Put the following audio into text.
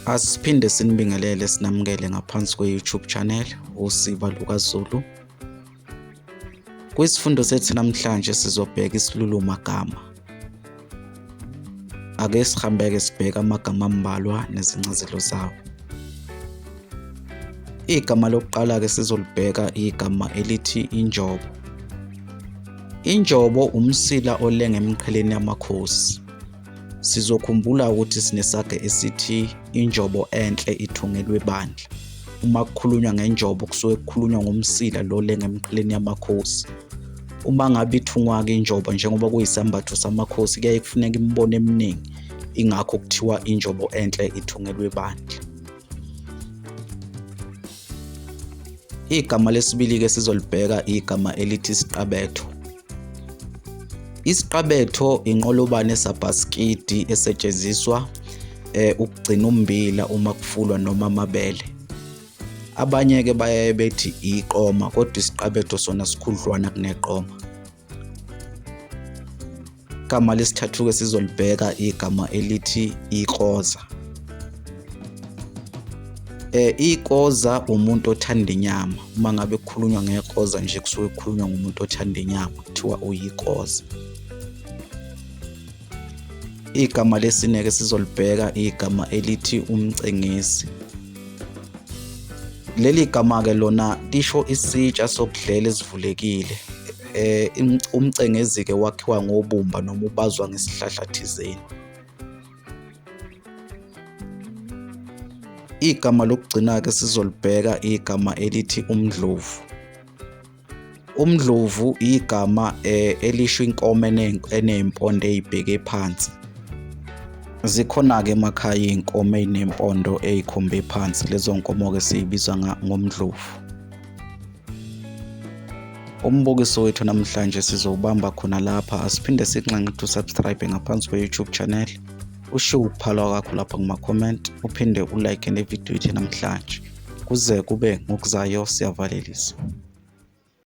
Asiphinde sinibingelele sinamukele ngaphansi kwe-YouTube channel uSiba LukaZulu. Kwisifundo sethu namhlanje sizobheka isilulu magama. Ake sihambeke sibheka amagama ambalwa nezincazelo zawo. Igama lokuqala ke sizolibheka igama elithi injobo. Injobo umsila olenge emqheleni yamakhosi. Sizokhumbula ukuthi sinesaga esithi injobo enhle ithungelwe bandla. Uma kukhulunywa ngenjobo kusuke kukhulunywa ngomsila lo le ngemqheleni yamakhosi. Uma ngabe ithungwa-ke injobo njengoba kuyisambatho samakhosi kuyaye kufuneka imibono eminingi ingakho kuthiwa injobo enhle ithungelwe bandla. Igama lesibili-ke sizolibheka igama elithi isiqabetho. Isiqabetho inqolobane sabhasikidi esetshenziswa eh, ukugcina umbila uma kufulwa noma amabele. Abanye-ke bayaye bethi iqoma kodwa isiqabetho sona sikhudlwana kuneqoma. igama lesithathu-ke sizolibheka igama elithi ikoza eh ikoza umuntu othanda inyama uma ngabe kukhulunywa ngekoza nje kusuke kukhulunywa ngomuntu othanda inyama kuthiwa uyikoza Igama lesineke sizolibheka igama elithi umcengisi. Leli gama ke lona lisho isitsha sokudlela esivulekile. Eh umcengezi ke wakhiwa ngobumba noma ubazwa ngesihlahla thizeni. Igama lokugcina ke sizolibheka igama elithi umdlovu. Umdlovu igama eh, elisho inkomo enempondo eyibheke phansi. Zikhona-ke emakhaya iy'nkomo ey'nempondo ey'khombe phansi lezo nkomo-ke siy'biza ngomdlovu. Umbukiso wethu namhlanje sizowubamba khona lapha asiphinde sikunxenxe to subscribe ngaphansi kwe-YouTube channel. ushiye ukuphala kwakho lapha kuma-comment uphinde ulike nevidiyo ithi namhlanje kuze kube ngokuzayo siyavalelisa